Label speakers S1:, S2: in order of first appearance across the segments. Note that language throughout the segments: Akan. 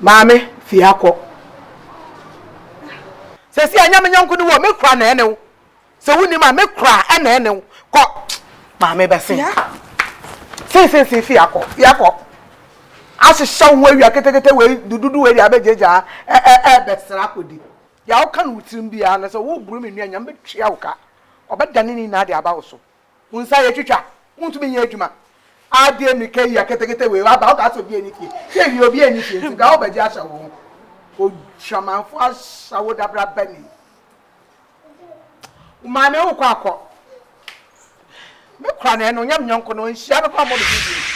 S1: Maame, fie ha kɔ. Seesei ɛnyɛ me yɔnko no wo, me kora na ɛne wo. Sɛ wonnim a, me kora na ɛne wo. Kɔ. Maame bɛse. Seesei fie ha kɔ, fie ha kɔ. Ahyehyɛ wo ho awia ketekete wei, dududu wei deɛ abɛgyagyaa ɛɛbɛsra akɔdi. Deɛ woka no wo tirim biara no, sɛ woboro me nnuan nyinaa, mɛtua wo ka. Ɔbɛdane ne nyinaa de aba wo so. Wo nsa yɛ twitwa wontumi nyɛ adwuma. Adɛn mmirika yi aketekete wei waba wokaa sɛ obi ani fie hwɛ wie obi ani fie nti koraa wobɛgye ahyɛ wo ho odwamanfoɔ ahyɛ wo dabrabani wo maame wokɔ akɔ me kora na ɛno nyɛ me nyɔnko no nhyia no kora mmɔ me din bio.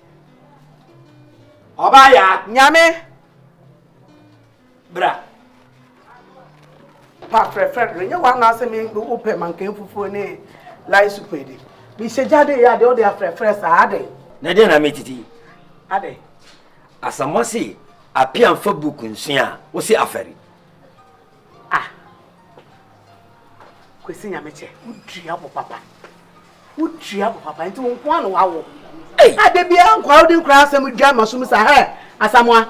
S2: Ọba ya. Nyame. Bra.
S1: Pa frɛfrɛ no nyɛ wɔn anaasɛ me wopɛ mankan fufuo ne lai supu edi mehyɛ gya de yɛ adeɛ wode afrɛfrɛ saa adɛn na ɛdeɛ na metiti
S2: adɛn
S1: asamoa
S2: se apia mfa book nsua a wose afɛre Ah
S1: Kwesi Nyamekyɛ, wo dua bo papa. Wo dua bo papa, nti wo nkoa na wawo. Ei! Ade biara nkoa wode nkora asɛm dwa ma so mu sa, hɛ, Asamoa.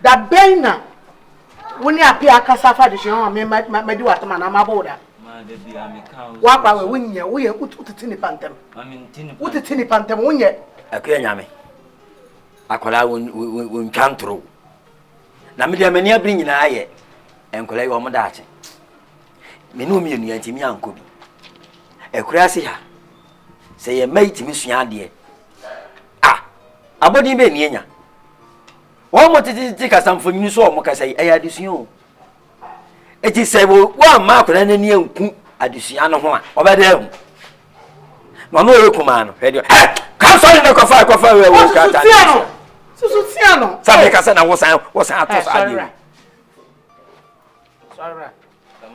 S1: Da bɛn na wo ne apea akasa fa adesua ho a me ma madi w'atam anaa mabɔ wo da? Ma da biara me
S3: ka wo. W'akora wɛ, wo nyɛ, wo
S1: yɛ, wo tete nipa ntɛm. Ma me nte nipa. Wo tete nipa ntɛm, wo nyɛ. Akua Nyame,
S2: akwadaa wo ntwa ntoro, Na me deɛ m'ani abere nyinaa yɛ nkwadaa yi wɔn daakye. Me ne wɔn mmienu yɛn ntumi ankɔ bi. Akuraase ha sɛ yɛn mma yi tumi sua adeɛ a abɔden bɛn ni anya. Wɔn mo tete kasa mfonyin so wɔn kasa yi ɛyɛ adesua o. eti sɛ wɔamma akwadaa no ani anku adesua no ho a ɔbɛda ahu na ɔno ɔyɛ kumaa no hwɛ deɛ ɛ kansɔre no kɔfa kɔfa wɛ wɔ krataa no susu
S1: tia no sɛ meka sɛ na wosan
S2: wosan ato saa deɛ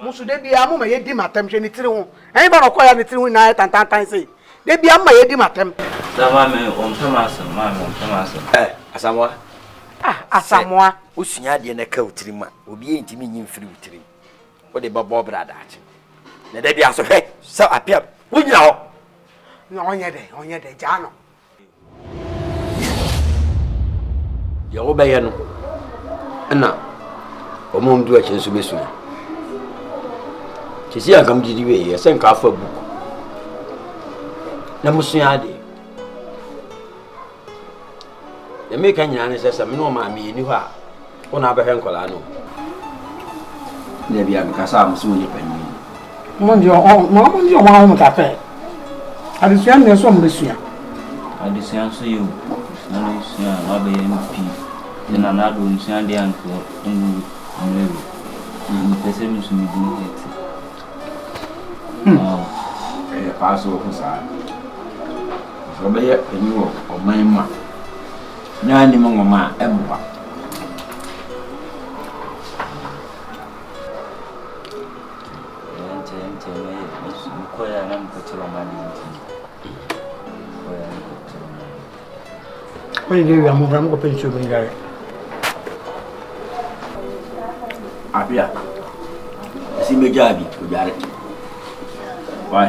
S2: musu
S1: de bia mo ma yɛ di ma tɛm hwɛ ne tiri ho ɛyin ba na ɔkɔ ya ne tiri ho nyinaa tantantan sei Da biara mma yɛdi m'atɛm. Sɛ maame
S3: ɔmpɛ m'asɛm, maame ɔmpɛ m'asɛm.
S2: Ɛ, Asamoa. Ah,
S1: Asamoa. Sɛ wosua adeɛ
S2: na ɛka wo tirim a, obiara ntumi nyi mfiri wo tirim. Wode bɛbɔ bra daakye. Na da biara nso hwɛ sɛ Appiah, wogyina hɔ. Na ɔnyɛ
S1: dɛn? Ɔnyɛ dɛn? Gyaa no.
S2: Deɛ wobɛyɛ no na wɔn a wɔdi akyi nso bɛsua. Sisi anka mo gyidi wei yɛ sɛ nka afa book na mo sua adeɛ. Deɛ meka nyinaa ne sɛ sɛ me ne wɔn maame yɛni hɔ a Wo na abɛhwɛ nkwadaa no o. Nna bi a mekasa a wɔse wonyɛ panyin. Mo ngye
S1: ɔmo ma ɔmo ngye ɔmo ahome kakra ɛ. Adesua ndeɛ so ɔmo bɛsua. Adesua
S3: nso yɛ o. Adesua no sua a wabɛyɛ no pii. Sɛ Nana Addo nsua adeɛ antoɔ ngu ɔmo level. Mepɛ sɛ mesu medin hɛɛte. Wow. Ɛyɛ paa sɛ ɔho saa. Sɛ ɔbɛyɛ panyin wɔ ɔman mu a. Nea nim nwoma a,
S1: ɛmmoa. Abia,
S2: esi megyaa bi, odware. Why?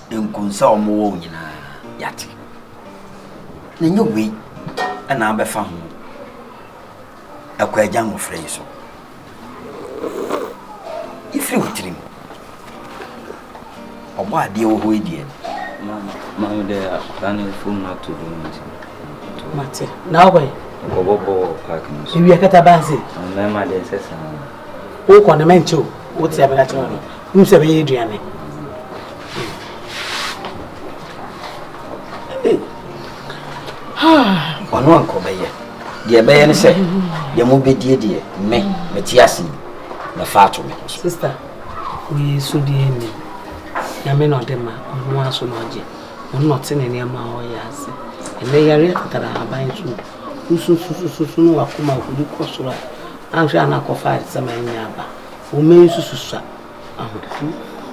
S2: Nkum sɛ ɔmo wɔ wo nyinaa yate na ɛnyɛ wei ɛna abɛfa ho ɛkɔ agya nwofra yi so ɛfiri wo tirim ɔbɔ adeɛ wɔ hɔ yi deɛ maame
S3: dɛ akwadaa no fom no ato dwom nti mate
S4: na wobɛn nkɔbɔbɔ wɔ
S3: park no so ewia kata banse
S4: mmarima deɛ ɛsɛ
S3: saa wokɔ
S4: no mɛnkyɛ o wote abɛda kyerɛ no Wonim sɛ ɛbɛyɛ
S2: aduane. Ɔno ankɔ bɛyɛ. Deɛ ɛbɛyɛ ne sɛ deɛ mobɛdie deɛ me mete ase yi mɛfa ato me ho so. Sista,
S4: woyɛ so deɛ nni. Nyame na ɔde ma ɔno ara so na ɔgye. Ɔno na ɔte ne nneɛma a ɔyɛ ase. Ɛnɛ yare atatara ahaban so. Wosususususu no wakoma akɔdi kɔ soro a anhwɛ a na akɔfa ayɛsɛm a ɛnyɛ aba. wo mma yi nso susua ahotoso.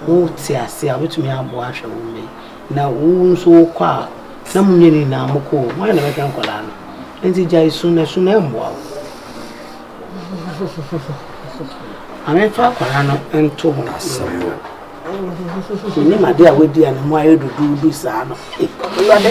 S4: Wote ase a, wobɛtumi aboa ahwɛ wo mma yi. Na wo nso wokɔ a, na mo nyɛ no nyinaa mokɔ o, hwan na bɛhwɛ nkwadaa no? Nti gyae su na su no ɛmmoa wo. Maame fa akwadaa no nto ho ase. Menim ade a wadi a ne mu ayɛ duduudu saa no. Awurade.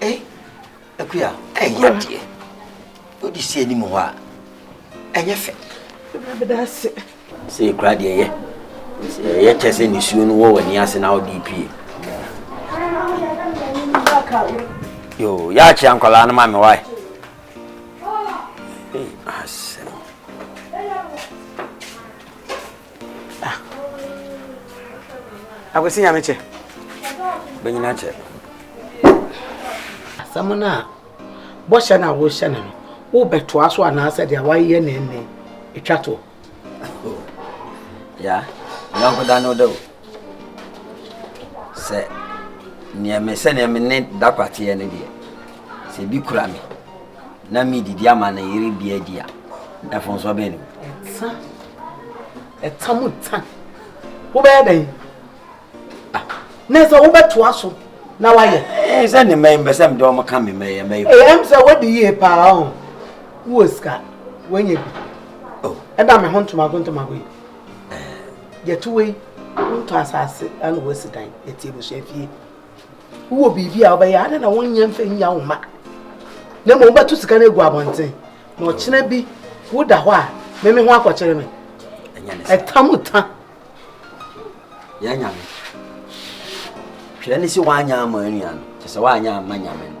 S2: Ei, Akuya, ɛnyɛ adeɛ. Wode si anim hɔ a, ɛnyɛ fɛ.
S1: Sɛ ekura deɛ yɛ.
S2: Sɛ ɛyɛ kyɛ sɛ nisuo no wɔ w'ani ase na wode pie. Yo, yɛakyea nkwadaa no ma me wae. Ei, asɛm.
S1: Ah. Akwasi nyame kyɛ. Bɛnyina
S2: kyɛ.
S4: Asɛm no a bɔhyɛ no a wohyɛ no no wobɛtoa so anaasɛ deɛ wayɛ ne nne ɛtwa toɔ.
S2: Ya, nyɔnko da no da o. Sɛ neɛ me sɛdeɛ me ne da kwateɛ no deɛ sɛ bi kura me na medidi ama ne yere bi adi a, mfomsoɔ bɛn no? Ɛta. Ɛta
S4: mu ta. Wobɛyɛ dɛn? Ah, na sɛ wobɛtoa so na wayɛ. Ɛɛ sɛ ne mmɛn bɛ sɛ mede
S2: wɔn ka me mmɛn mmɛn. Ɛɛ ɛm sɛ wadi
S4: yie paa o. Wowɔ sika, wanya bi. Oh. Ɛda
S2: me ho ntomago
S4: ntomago yi. Ɛɛ. Yɛto wei, wontɔ asase ɛna wɔasi dan, yɛte abusua fie. Wowɔ biribi a wobɛyɛ adɛn na wonyɛ mfa nnya wo mma na mmom wobɛto sika no agu abɔnten na ɔkyena bi woda hɔ a meme ho akɔkyere me ɛta mu ta
S2: yɛ nyame hwɛ ne sɛ woanyɛ ama anua no kyɛ sɛ woanyɛ ama nyame no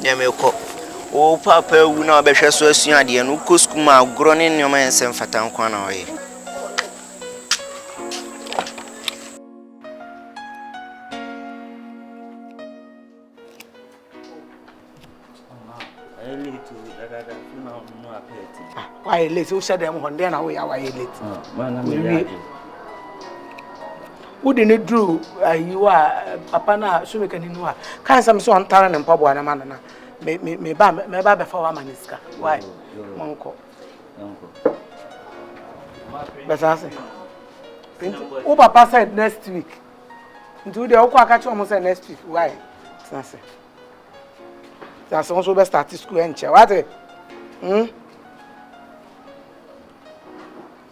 S5: Nea
S6: merekɔ. Wo papa awu na wabɛhwɛ so asua adeɛ no, wokɔ sukuu ma agorɔ ne nneɛma a ɛnsɛ mfata nko ara na wɔyɛ.
S1: wayɛ late wohyɛ dɛm hɔ ndɛn na woyɛ a wayɛ late Wode no duru ayi hɔ a, papa no a, Sumikani no a, ka nsɛm sɛ ɔntare ne mpaboa no ma no na me, me, me ba, mɛba abɛfa wo ama ne sika. Why? Monkɔ. Bɛsa ase. Nti, wo papa said next week. Nti, wo deɛ wokɔ aka kyerɛ ɔmo sɛ next week. Why? Tena ase. Tena ase, wo nso wobɛ start school ɛnkyɛ. Wate? Hmm?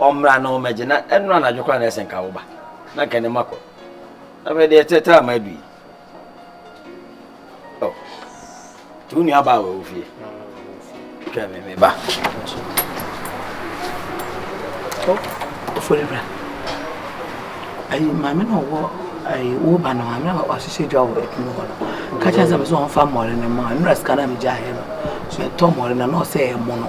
S2: ɔmmra na ɔmmɛgye, na ɛnnora anadwo koraa na ɛsɛ nka woba, na nka ne mma kɔ. Afei deɛ ɛtrɛtrɛ ama adu yi. Oh. To wo nuabaa wɔ wo fie. Twɛ me me ba.
S1: Oh, ofori bra. Ayi maame na ɔwɔ ayi wo ba no maame na ɔhyehyɛ dwa wɔ ɛdunu hɔ no. Kakyɛ sɛ me sɛ ɔmfa mmɔre no ma nnura sika na megya ayɛ no. So ɛtɔ mmɔre na na ɔsɛ ɛmo no.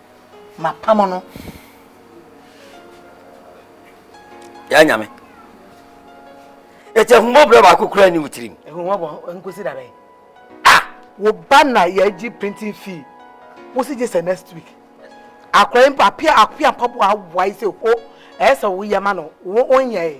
S1: mapam no.
S2: Yɛ nyame. Eti ahummɔborɔ baako kura ni wo tirim. Ahummɔborɔ nkosi
S1: da bɛn. Ah! Wo ba na yɛagye printing fee. Wo si gye sɛ next week. Akora yi mpo apia apia mpaboa awae sɛ ho ɛyɛ sɛ woyɛ ma no wo onyɛ.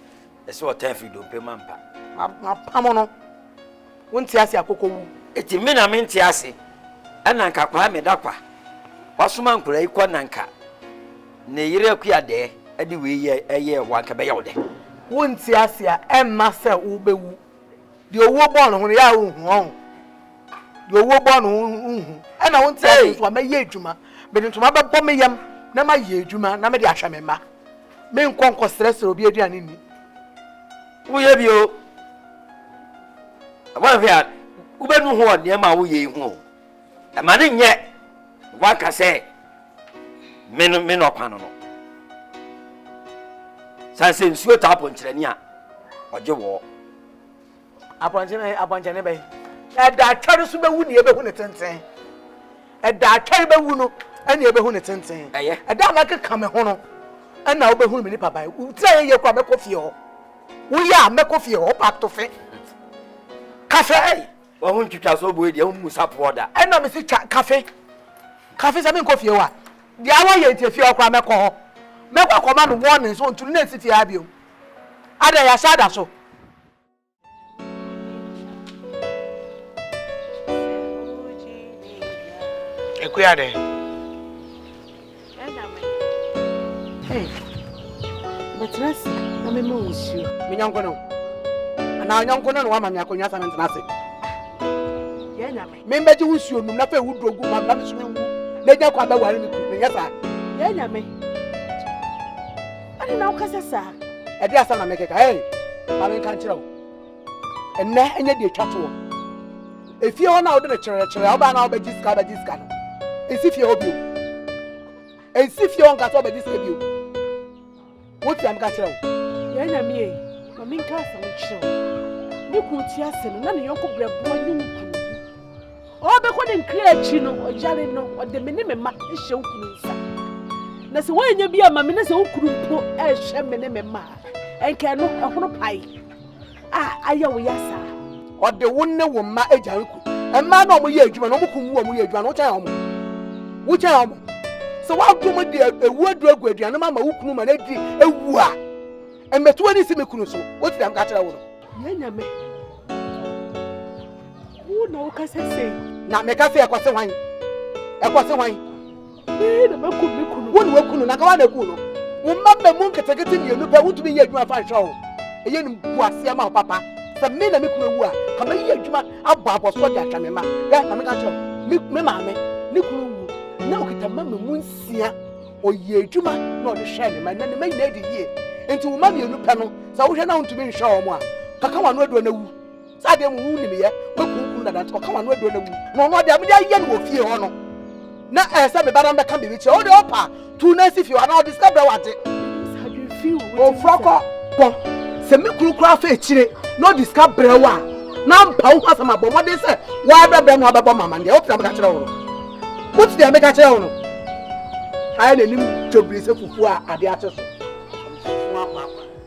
S1: ɛsɛ ɔtan
S2: firi dompe mu ampa. Mapam
S1: no, wonte ase akokɔ wu. Eti me na mente
S2: ase, ɛna nka kwaa meda kwa. Wasoma nkora yi kɔ na nka ne yere akua dɛɛ ɛde wei yɛ ɛyɛɛ wo anka ɛbɛyɛ wo dɛ. Wonte ase
S1: a ɛmma sɛ wobɛwu. Deɛ owuo bɔɔ ne ho no yɛ a wonhu ɔho. Deɛ owuo bɔɔ ne ho no wonhu. Ɛna wonte ase nso a mɛyɛ adwuma. Mede ntoma bɛbɔ me yam na mayɛ adwuma na mede ahwɛ me mma. Menkɔ nkɔsrɛsrɛ obi aduane nni.
S2: Woyɛ bi o. Woanhwɛ a wobɛnu ho wɔ nneɛma a woyɛ yi ho o. Ɛma no nyɛ woaka sɛ me no me na ɔkwan no no. Sane sɛ nsuo taa ponkyerɛni a ɔgye wɔɔ. Apɔnkye
S1: apɔnkyɛne bɛn? Ɛda atwɛre so bɛwu nea ɛbɛhu ne tenten. Ɛda atwɛre bɛwu no ɛnea ɛbɛhu ne tenten. Ɛyɛ. Ɛda a mɛkeka
S2: me ho
S1: no ɛna wobɛhunu me nipa ban. Wotira yɛ yie kora mɛkɔ fie hɔ. Woyɛ a mɛkɔ fie hɔ ɔpa to fe. Kafe. Wɔn ho
S2: ntwitwa so oboe deɛ wɔn mu sapoɔ da. Ɛna me si twa kafe.
S1: Kafe sɛ menkɔ fie hɔ a deɛ awɔ yɛ nti efie hɔ kora mɛkɔ hɔ. Mɛkɔ akɔma no wɔn ne nso nturu na esi fie ha bio. Ada yɛ ahyɛ ada so. Ekuya dɛ. Hey,
S4: bɛtena ase na mema wo nsuo. Me nyɔnko no.
S1: Anaa nyɔnko no na wama me akonnwa sɛ mentena ase.
S4: Yɛ nyame. Membɛgye wo nsuo nom na
S1: afei wo duro gu ma na meso menwu na ɛnya kwan bɛware me kuru menyɛ saa. Yɛ nyame.
S4: Ade na wokasa saa. Ɛde asa na
S1: mekeka. Hey, ma menka nkyerɛ wo. Ɛnɛ ɛnyɛ deɛ ɛtwa toɔ. Efie hɔ na wode no kyerɛkyerɛ wobaa na wobɛgye sika wobɛgye sika no. Ɛnsi fie hɔ bio. Ɛnsi fie hɔ nka sɛ wobɛgye sika bio. Wote a meka kyerɛ wo? Yɛn Nyame ei,
S4: ma menka asɛm nkyerɛ wo. Ne kunu te ase no, na ne yɔnko berɛboɔ ne ne kunu wu. Ɔrebɛkɔ ne nkra akyi no, ɔyare no, ɔde me ne me mma hyɛ wo kunu nsa. Na sɛ woannya bi amma me na sɛ wo kunu mpo anhwɛ me ne me mma a, ɛnka ɛno, ɛhono pae. a ayɛ wo ya saa. Ɔde wo
S1: ne wo mma agya nku. Mmaa na wɔyɛ adwuma na wɔkum wo a wɔyɛ adwuma no wokyɛn wɔn. Wokyɛn wɔn. Sɛ woadom de ewu aduru agu aduane ma ma wo kunu ma no adi ewu a, mmɛto ani si me kunu so. Wote dɛm ka kyerɛ wo no. Yɛn nyame.
S4: Wo na wokasa sei. Na meka sɛ ɛkɔse
S1: hwan? Ɛkɔse hwan? Yee na
S4: makum me kunu. Wo na waku no, na anka woa na
S1: akum no. Wo mma mmamu nketenkete mmienu pɛ, wontumi nyɛ adwuma mfa nhwɛ wɔn. Ɛyɛ animguaseɛ ma wo papa. Sɛ me na me kunu awu a, anka mɛyɛ adwuma abɔ abɔsoɔ de ahwɛ me mma. Hwɛ, maame ka kyerɛ me, me maame, ne kunu wu, na ɔkita mma mmamu nsia. Ɔyɛ adwuma na ɔde hwɛɛ ne mma. Ɛnnɛ ne mma nyinaa adi yie. Enti wo mma mmienu pɛ no, sɛ wohwɛ na wontumi nhwɛ wɔn a, kaka w'ano aduro na wu. saa deɛ mu wo nim yɛ wakunkum dada nti ɔka wano aduro na wu na ɔno adeɛ mede ayɛ no wɔ fie hɔ no na ɛyɛ sɛ meba na mbɛka biribi kyerɛ wode ɔpa tu na si fie hɔ anaa ɔde sika brɛ wagye ɔfura kɔ kɔ sɛ me kunu koraa fa akyire na ɔde sika brɛ wo a na mpa wo ho asɛm abɔ mmɔden sɛ woabɛbrɛ no abɛbɔ mama deɛ wopena meka kyerɛ wo no wote deɛ meka kyerɛ wo no ayɛ n'anim twabiri sɛ fufuo a adeɛ akye so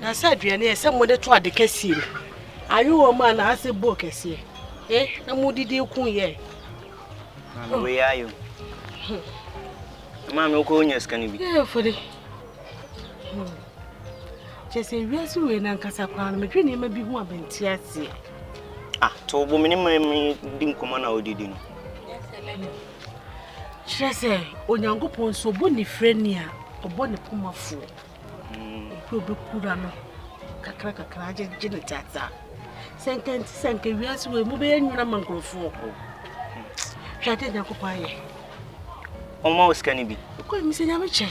S4: Na sɛ aduane a ɛsɛ mode to ade kɛseɛ mu, ayowa mu anaasɛ bowl kɛseɛ, e na modidi ko yɛ. Maame
S6: wei ayɛ o. Hmm. Maame wokɔ wonya sika no bi. Yɛ fɔde.
S4: Hmm. Kyɛ sɛ wiase wei na nkasa koraa no medwe nneɛma bi ho a menti aseɛ. Ah, to
S6: wo bo me ne ma me di nkɔmmɔ na wodidi no.
S4: Kyerɛ sɛ Onyankopɔn nso ɔbɔ ne frɛ ni a ɔbɔ ne pomafoɔ. Obi a obekura no kakra kakra agyegye no tiatia. Sɛ nka nti sɛ nka wiase wei mu bɛyɛ nwuna ma nkurɔfoɔ. Hwɛ ade Nyankopɔn ayɛ.
S6: Ɔma wo sika no bi. Kɔ mi sɛ nyame kyɛ.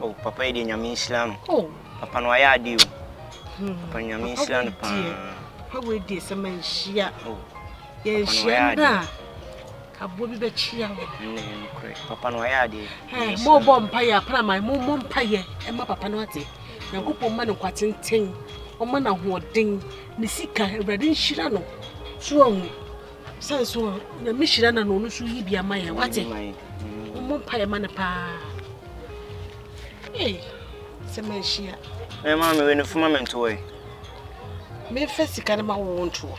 S4: Oh papa yi deɛ
S6: nyame nhyira no. Oh. Papa no ayɛ ade o. Hmm. Papa nyame nhyira no paa. Papa wei
S4: deɛ sɛ manhyia. Oh. Yɛnhyia no a. Aboɔ bi bɛkyea wo. Ɛnne yɛ nokorɛ. Papa
S6: no wayɛ adeɛ. Hɛɛ, moobɔ mpaeɛ
S4: a, praman, mommɔ mpaeɛ mma papa no ate. Nyankopɔn mma no nkwa tenten, ɔmma no ahoɔden, ne sika, Awurade nhyira no. So wahu? Sane so, Nyame hyira na na ɔno so yi bi ama yɛ, wate? Mommɔ mpaeɛ ma no paa. Ei, sɛ manhyia. Mɛma me
S6: wɛ no fuma me ntoɔ yi.
S4: Memfa sika no ma wo ntoɔ.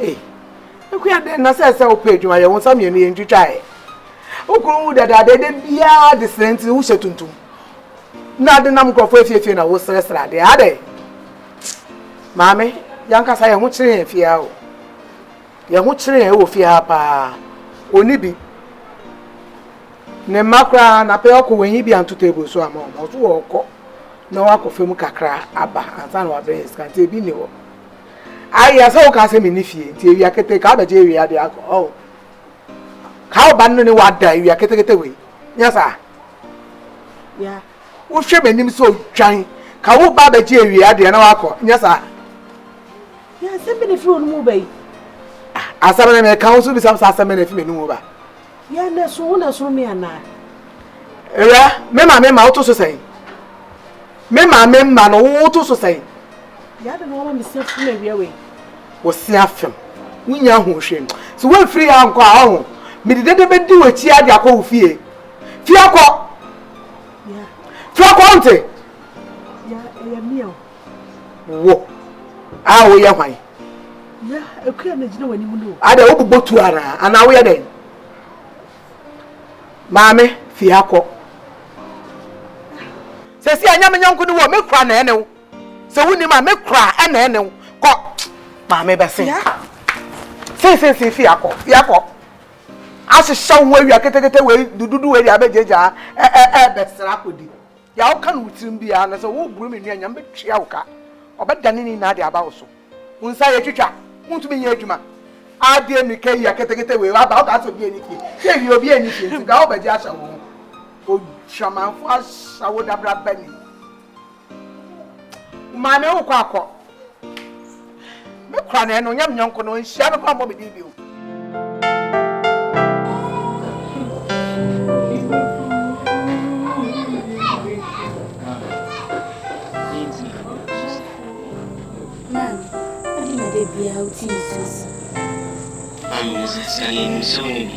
S1: Ei, Akua dɛn na sɛ sɛ wopɛ adwuma yɛ wo nsa mmienu yɛ ntwitwa ɛ. Wo kunu wu dadaada ɛdɛ biara de srɛ nti wohyɛ tuntum. Na ade nam nkurɔfoɔ afiefie na wosrɛsrɛ adeɛ adɛ. Maame, yankasa yɛn ho kyere yɛn fie ha o. Yɛn ho kyere yɛn wɔ fie ha paa. Ɔni bi. Ne mma koraa na pɛ ɔkɔ wɔnyi bi anto table so ama wɔn. Ɔso ɔkɔ na wakɔ fam kakra aba ansa na wabrɛ yɛn sika nti ebi nni hɔ. Ayɛ sɛ wokaa sɛ menni fie nti awia ketee ka wobɛgye awia de akɔ oh ka wo ba no ne wada awia ketekete wei nyɛ saa yeah.
S4: wohwɛ
S1: m'anim sɛ odwan ka wo ba bɛgye awia deɛ na wakɔ nyɛ saa yeah, asɛm
S4: bɛ na ɛfiri wo no mu ba yi asɛm
S1: na meka wo nso bisa sɛ asɛm bɛ na ɛfiri m'anim mu ba Yɛ na so wo
S4: na soro me anaa? Ewura,
S1: me maame mma woto so sɛn? Me maame mma no woto so sɛn? Yɛ adɛn na woama
S4: me sia fem awia wei? Wo sia
S1: fem? Wonnya ahoɔhwɛ mu. Sɛ woamfiri ha ankɔ a, ɔho, mede dede bɛdi w'akyi ara de akɔ wo fie. Firi akɔ!
S4: Firi akɔ,
S1: wonte? Yɛ,
S4: ɛyɛ me o. Wo
S1: a woyɛ hwan? Ya akua na gyina
S4: w'anim no. Ada wobobɔ tu anaa
S1: anaa woyɛ dɛn? Maame fi ha kɔ. Sɛ si anyame nyɔnko ne wɔ mekura na ɛne wo. Sɛ wonim a mekura ɛna ɛne wo. Kɔ. Maame bɛse. Ya. Sinsinsin fi ha kɔ. Fi ha kɔ. Ahyehyɛ wo ho awia ketekete wei dududu wei de abɛgyagyaa ɛbɛsra akɔdi. Deɛ woka no wo tirim biara, na sɛ woreboro me nnuan nyinaa, mɛtua wo ka. Wɔbɛdane ne nyinaa de aba wo so. Wo nsa yɛ twitwa, wontumi nyɛ adwuma. Adeɛ mmirika yi a ketekete wei aba a, wokaa sɛ obiara nni fie. Hwɛ awie, obiara nni fie nti, ga wobɛgye ahyɛ wo ho. Odwamanfoɔ ahyɛ wo dabraba ni. Wo maame wokɔ akɔ. Me kura na ɛno nyɛ me nyɔnko no nhyia no kora mmɔ me din bio.
S3: Biara wotie nsuo si. Amu sɛ yɛnim sɛ wo ne bi.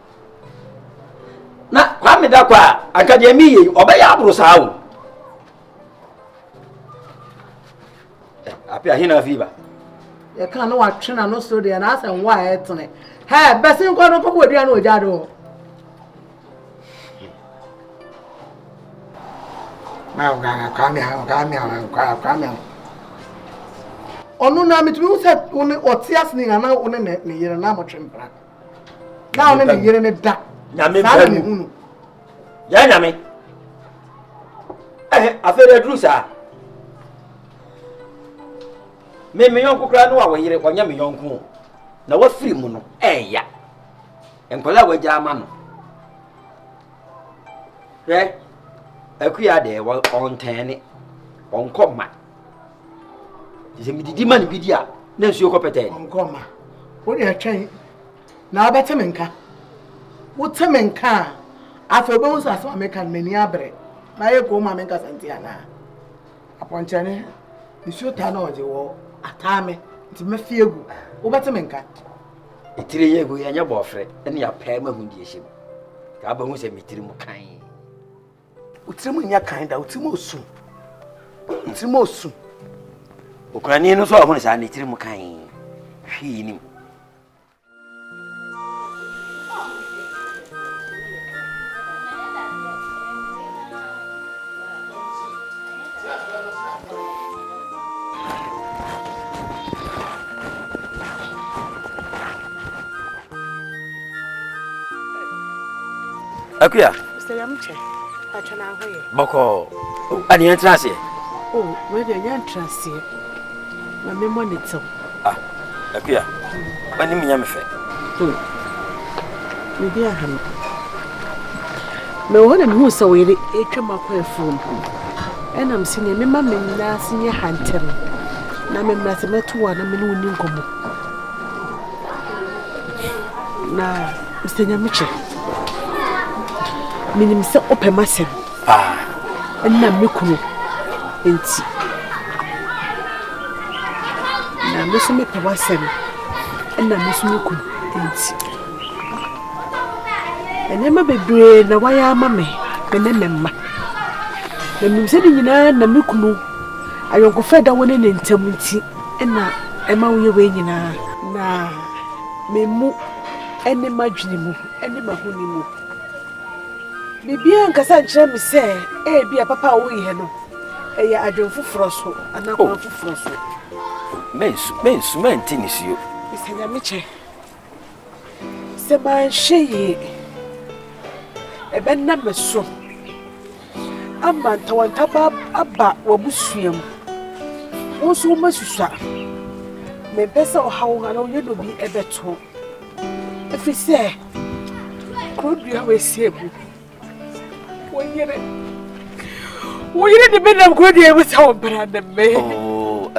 S2: na kwame dakɔ a anka deɛ mi yɛ yi ɔbɛyɛ aboro saa o eh, ape ahena fi ba. yɛka
S1: no watwe na no so deɛ na asɛ nwa a ɛtene hɛ bɛse nkɔ no kɔbɔ adua no ɔgya do ɔno na metumi wo sɛ wo ne ɔte ase ne nyina na wo ne ne yere na motwe mpra na ɔne ne yere no da nyame saa na mehu
S2: no yɛ nyame ɛhɛ afei dɛ aduru saa me me yɔnko koraa no a wɔyere ɔnyɛ me yɔnko na wafiri mu no ɛɛya nkwadaa a wagya ama no hwɛ akuya deɛ ɔntɛn ne ɔnkɔ ma nti sɛ medidi ma no bi di a na nsuo kɔ pɛtɛɛ ɔnkɔma
S1: wode ɛtwɛn na wobɛte me nka wote me nka a afei wobɛhu sɛ asɛm a meka no m'ani abrɛ na ayɛ kɔn mu a menkasa nti anaa apɔnkyɛne nsuo taa na ɔgye wɔ ataa me nti mɛfi agu wobɛte me nka ɛtire
S2: yɛ gu yɛnyɛ bɔɔfrɛ ne apɛɛ mahu deɛ hyɛ mu ka wobɛhu sɛ metiri mu kan
S1: Wo tirim nyɛ kan da, wo tirim osu. Wo tirim osu.
S2: Okunani no nso ɔho no saa ne tirim kan hwii nim. Akuya. Sɛ
S1: yam kyɛ, pakyɛ na ho yɛ. Bɔkɔɔ.
S2: Oh, adi yɛn tra aseɛ. Oh, wei
S1: deɛ yɛn tra aseɛ. Ma me mɔ ne tew. Ah, akuya.
S2: W'anim nyɛ me fɛ. Oh,
S1: me di aha no. Me wɔ hɔ na me hu sɛ wo yere etwa mu akɔ afuom. Ɛna me si nea me ma me nan ase nyɛ hantɛm. Na me mmra sɛ mɛto wo a na me ne wo ni nkɔmɔ. Na, Mister Nyamekyɛ. menim sɛ wopɛ m'asɛm paa ɛna me kunu nti na me so mepɛ w'asɛm ɛna me so me kunu nti nneɛma bebree na wayɛ ama me me ne me mma na menim sɛ ne nyinaa na me kunu ayɔnkofa ɛda wo ne ne ntam nti ɛna ɛma woyɛ wei nyinaa na me mu ne m'adwene mu ne m'ahoni mu. Biribiara nkasa nkyerɛ me sɛ ebi a papa a woyɛ no ɛyɛ adwene foforɔ so anaa kwan oh. foforɔ so. Mensu
S2: mensu mɛnte nisuo. Bisa nyame kyɛ
S1: sɛ manhwɛ yie ɛbɛnna me so. ama ntawantaba aba w'abusua mu. Wo nso wobɛsusua. Mempɛ sɛ ɔhaw wo anaa ɔyɛ dɔbi ɛbɛto ɛfiri sɛ kuro dua wɔasi agu wo yere wo yere de bɛnam kuro dua mu sɛ ɔbra ne me oh,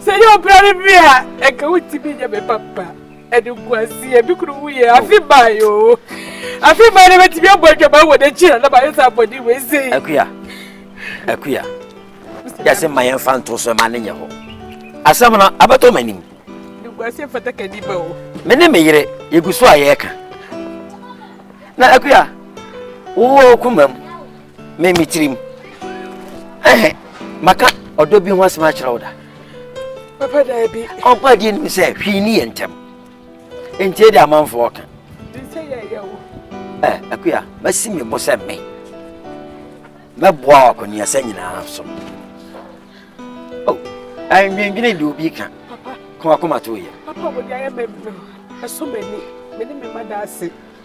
S2: sɛ yɛ ɔbra ne
S1: me a ɛka wotumi nyɛ me papa ɛde nkwasi ebi kuru wu yɛ afi ba yi o afi ba yi bɛtumi abɔ adwama wɔ n'akyi na dɛm ayɛ sɛ abɔde wɔ ese yi. akuya
S2: akuya yɛsɛ mma yɛn fa nto so ɛma ne nyɛ hɔ asɛm no abɛtɔ m'anim. de nkwasi
S1: mfata ka nipa o. me ne me yere
S2: yɛgu so a yɛreka na akuya wowɔ kuma mu me me tirim ɛhɛ maka ɔdɔ bi ho asɛm akyerɛ wo da. papa
S1: daabi ɔnkɔ adeɛ nim sɛ
S2: hwii ne yɛ ntɛm ntie de amanfoɔ ka
S1: ɛ akuya
S2: masi me bo sɛ me mɛboa wɔ akɔneasa nyinaa so ɛndwendwene deɛ obi ka kɔmakɔma
S1: to yɛ ɛso m'ani mene me ma da ase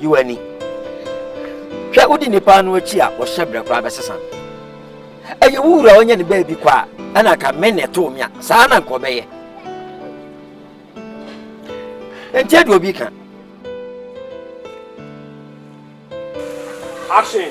S2: Yi w'ani hwɛ, wodi nnipa ano akyi a wɔhyɛ brɛ koraa bɛsesa no. Ɛyɛ wo wura ɔnyɛ ne baabi kɔ a, ɛna anka me na ɛtoo me a, saa na nka ɔbɛyɛ. Ɛnti ɛde obi ka.
S7: Action!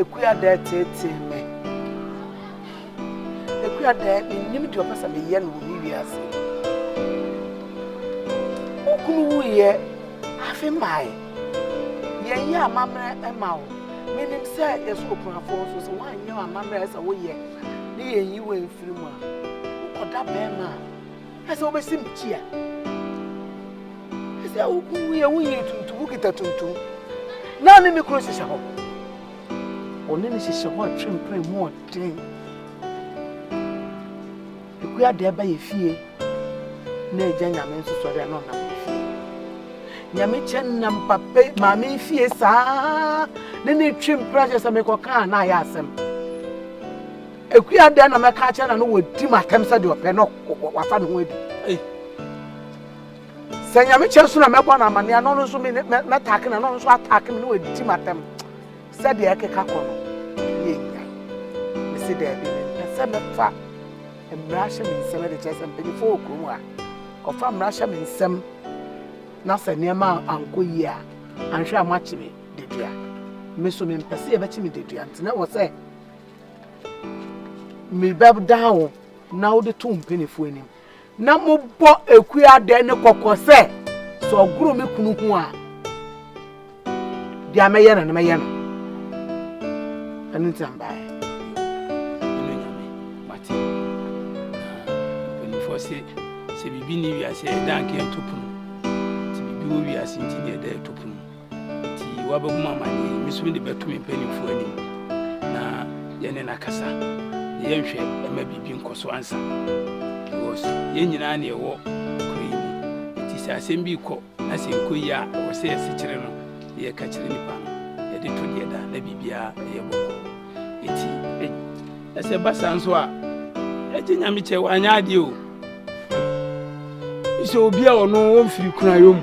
S1: Ekuadɛɛ tseetsee me. Ekuadɛɛ minnyim dza ɔpɛ sɛ meyɛ no wɔ me wiadze yi. Mo kun wuiɛ, afe mmae. Yɛnyɛ amammerɛ mma wo. Menim sɛ yɛsɔ okunafoɔ nso sɛ woanyɛ amammerɛ a ɛsɛ sɛ woyɛ ne yɛnyi wo amfiri mu a, wokɔda barima a Ɛsɛ wobɛsi me kyia. Ɛsɛ woyɛ wo yere tuntum, wokita tuntum. Na ne ne kuro hyehyɛ hɔ. Ɔne ne hyehyɛ hɔ atwe mpere mu ɔden. Ɛkua deɛ ɛba yɛ fie na agya nyame nso sɔre a na ɔnam yɛ fie. Nyame kyɛ nam papa maame fie saa ne ne twe mpere ahyɛ sɛ mekɔka a na ayɛ asɛm. Akua dɛn na mɛka akyerɛ na no wɔdi m atɛm sɛ deɛ ɔpɛ na wafa ne ho adi? Sɛ nyame kyɛ so na mɛbɔ no amane a na ɔno nso mɛtake na na ɔno nso atake me na wɔadi m atɛm sɛdeɛ ɛkeka kɔ no ne ɛnya. Mese daabi, mempɛ sɛ mɛfa mmara hyɛ me nsɛm de kyerɛ sɛ mpanyimfoɔ wɔ kurom a ɔfa mmara hyɛ me nsɛm na sɛ nneɛma ankɔ yie a anhwɛ a moakye me dedua. Me so mempɛ sɛ yɛbɛkye me dedua nti na wɔ sɛ Mebɛdaa wo na wode too mpanimfoɔ anim, na mobɔ akuadɛ ne kɔkɔ sɛ, sɛ ɔgoro me kunu ho a, deɛ mɛyɛ no no mɛyɛ no. Ɛno nti na mbaeɛ.
S7: Mpanimfoɔ se, sɛ biribi ne wiase ɛda nka ɛto pono, nti biribi wɔ wiase nti ne ɛda ɛto pono. Enti woabehu m'amaneɛ yi, me nso mede bɛto me mpanimfoɔ anim, na yɛne no akasa, na yɛnhwɛ ɛma biribi nkɔ so ansa, because yɛn nyinaa na yɛwɔ kuro yi mu. Enti sɛ asɛm bi rekɔ na sɛ nkɔ yie a, ɛwɔ sɛ yɛsekyere no na yɛka kyerɛ nnipa no, yɛde to deɛ da na biribiara ɛyɛ bɔkɔɔ. Enti na sɛ ɛba saa nso a, ɛgye nyame kyɛ wanyɛ adeɛ o. Sɛ obi a ɔno ɔmfiri kunayɔ mu.